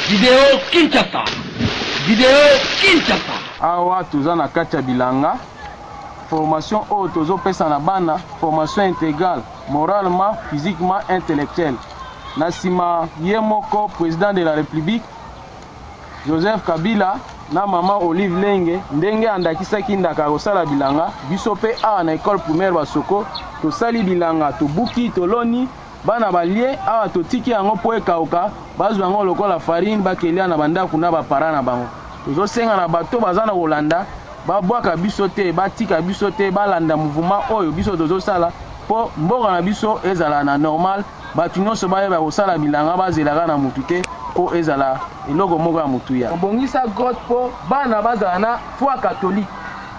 Video Kinshasa. Video Kinshasa. Awa toza na kati ya bilanga. Formation oyo tozopesa na bana, formation intégrale, moralement, physiquement, intellectuelle. Na nsima ye moko président de la République Joseph Kabila na mama Olive Lenge ndenge andakisaki ndaka kosala bilanga, biso mpe awa na école primaire Basoko tosali bilanga, tobuki, toloni Bana balie awa totiki yango po ekauka bazwa yango lokola farine bakelia na ba ndaku na ba parents na bango. Tozo senga na bato baza na kolanda ba bwaka biso te ba tika biso te balanda mouvement oyo biso tozo sala po mboka na biso ezala na normal bato nionso bayeba kosala bilanga bazela ka na mutu te po ezala eloko moko ya motuya. Bongisa grotte po bana bazala na foi catholique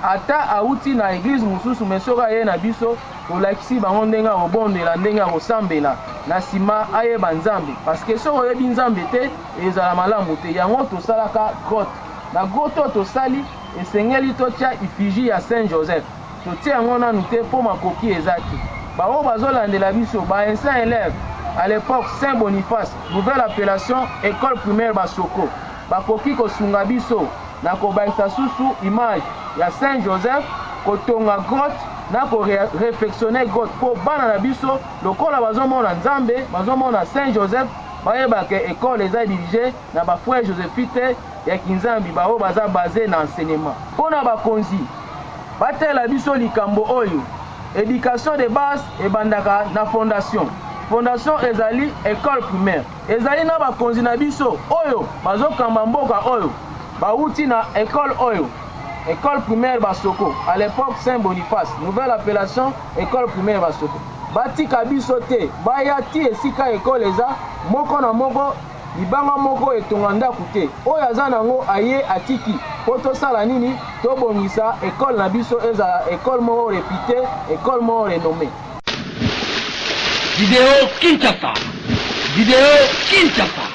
ata awuti na eglise mosusu mais soki aye na biso Olakisi bango ndenge ya kobondela, ndenge ya kosambela, na sima ayeba Nzambe parce que soki oyebi Nzambe te ezala malamu te. Yango tosalaka grotte. Na grotte oyo tosali esengeli totia effigie ya Saint Joseph. Totie yango nanu te po makoki eza te. Ba oyo bazolandela biso, ba anciens eleves, à l'epoque Saint Boniface, nouvelle appellation, ecole primaire Basoko. Bakoki kosunga biso na kobakisa susu image ya Saint Joseph, kotonga grotte na ko refectionner grotte po bana na biso lokola bazo mona Nzambe, bazo mona Saint Joseph, bayeba que ecole eza dirige na ba frères josephites ya kinzambi ba oyo baza base na enseignement. Pona bakonzi batalela biso likambo oyo, education de base ebandaka na fondation. Fondation ezali ecole primaire. Ezali na bakonzi na biso oyo bazo kamba mboka oyo bawuti na ecole oyo, ecole primaire Basoko, à l'epoque Saint Boniface, nouvelle appellation ecole primaire Basoko. Batika biso te baya ti esika ecole eza, moko na moko libanga moko etonga ndaku te, oyo aza nango aye atiki po tosala nini? Tobongisa ecole na biso ezala ecole moko reputee, ecole moko renommee. Video Kinshasa! Video Kinshasa!